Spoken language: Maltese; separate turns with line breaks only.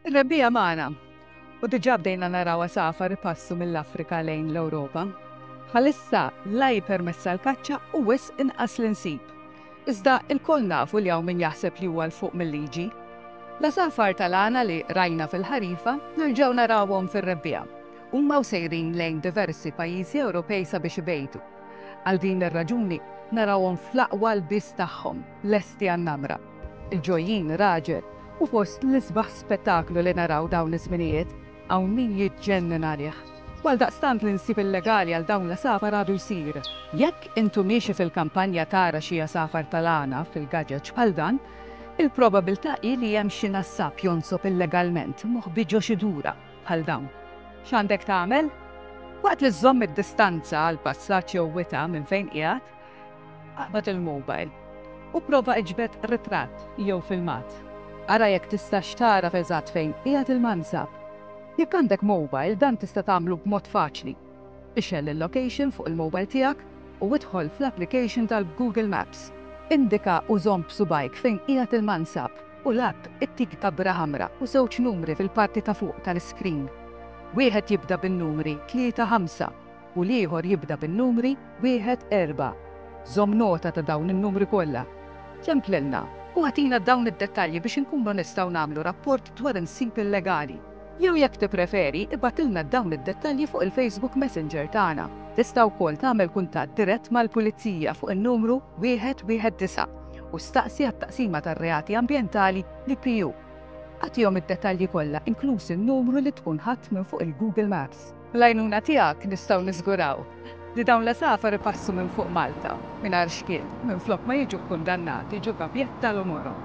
Ir-rebbiegħa magħna, u diġà bdejna naraw għasafar ipassu mill-Afrika lejn l-Ewropa. Bħalissa la hi permessa l-kaċċa u wisq inqas li nsib. Iżda ilkoll nafu li hawn min jaħseb li huwa 'l fuq mil-liġi. L-għasafar tal-għana li rajna fil-ħarifa nerġgħu narawhom fir-rebbiegħa. Huma u sejrin lejn diversi pajjiżi Ewropej sabiex ibejtu. Għal din ir-raġuni narawhom fl-aqwa lbies tagħhom. lesti għan-namra. Il-ġojjin raġel hu fost l-isbaħ spettaklu li naraw dawn iż-żminijiet, hawn min jiġġennen għalih. U għaldaqstant l-insib illegali għal dawn l-għasafar għadu jsir. Jekk int u miexi fil-kampanja tara xi għasafar tal-għana fil-gaġeġ bħal dan, il-probabilità hi li hemm xi nassab jonsob illegalment moħbi ġo xi dura bħal dawn. X'għandek tagħmel? Waqt li żżomm id-distanza għall-passaġġ jew wita' minn fejn qiegħed, Aqbad il-mobile u pprova iġbed ritratt jew filmat. Ara jekk tistax tagħraf eżatt fejn qiegħed il-mansab. Jekk għandek mobile, dan tista' tagħmlu b'mod faċli. Ixgħel il-location fuq il-mobile tiegħek u idħol fl-application tal-Google Maps. Indika u żomm b'subgħajk fejn qiegħed il-mansab u l-app ittik dabra ħamra u żewġ numri fil-parti ta' fuq tal-iskrin. Wieħed jibda bin-numri tlieta ħamsa. u l-ieħor jibda bin-numri wieħed, erbgħa. Żomm nota ta' dawn in-numri kollha. Templilna u agħtina dawn id-dettalji biex inkunu nistgħu nagħmlu rapport dwar il-nsib illegali. Jew jekk tippreferi, ibgħatilna dawn id-dettalji fuq il-Facebook Messenger tagħna. Tista' wkoll tagħmel kuntatt dirett mal-Pulizija fuq in-numru wieħed, wieħed, disa' u staqsi għat-Taqsima tar-Reati Ambjentali, l-IPU. Agħtihom id-dettalji kollha inkluż in-numru li tkun ħadt minn fuq il-Google Maps. Bl-għajnuna tiegħek nistgħu niżguraw li dawn l-għasafar ipassu minn fuq Malta mingħajr xkiel, minflok ma jiġu kkundannati ġo gabjett tal-umorhom.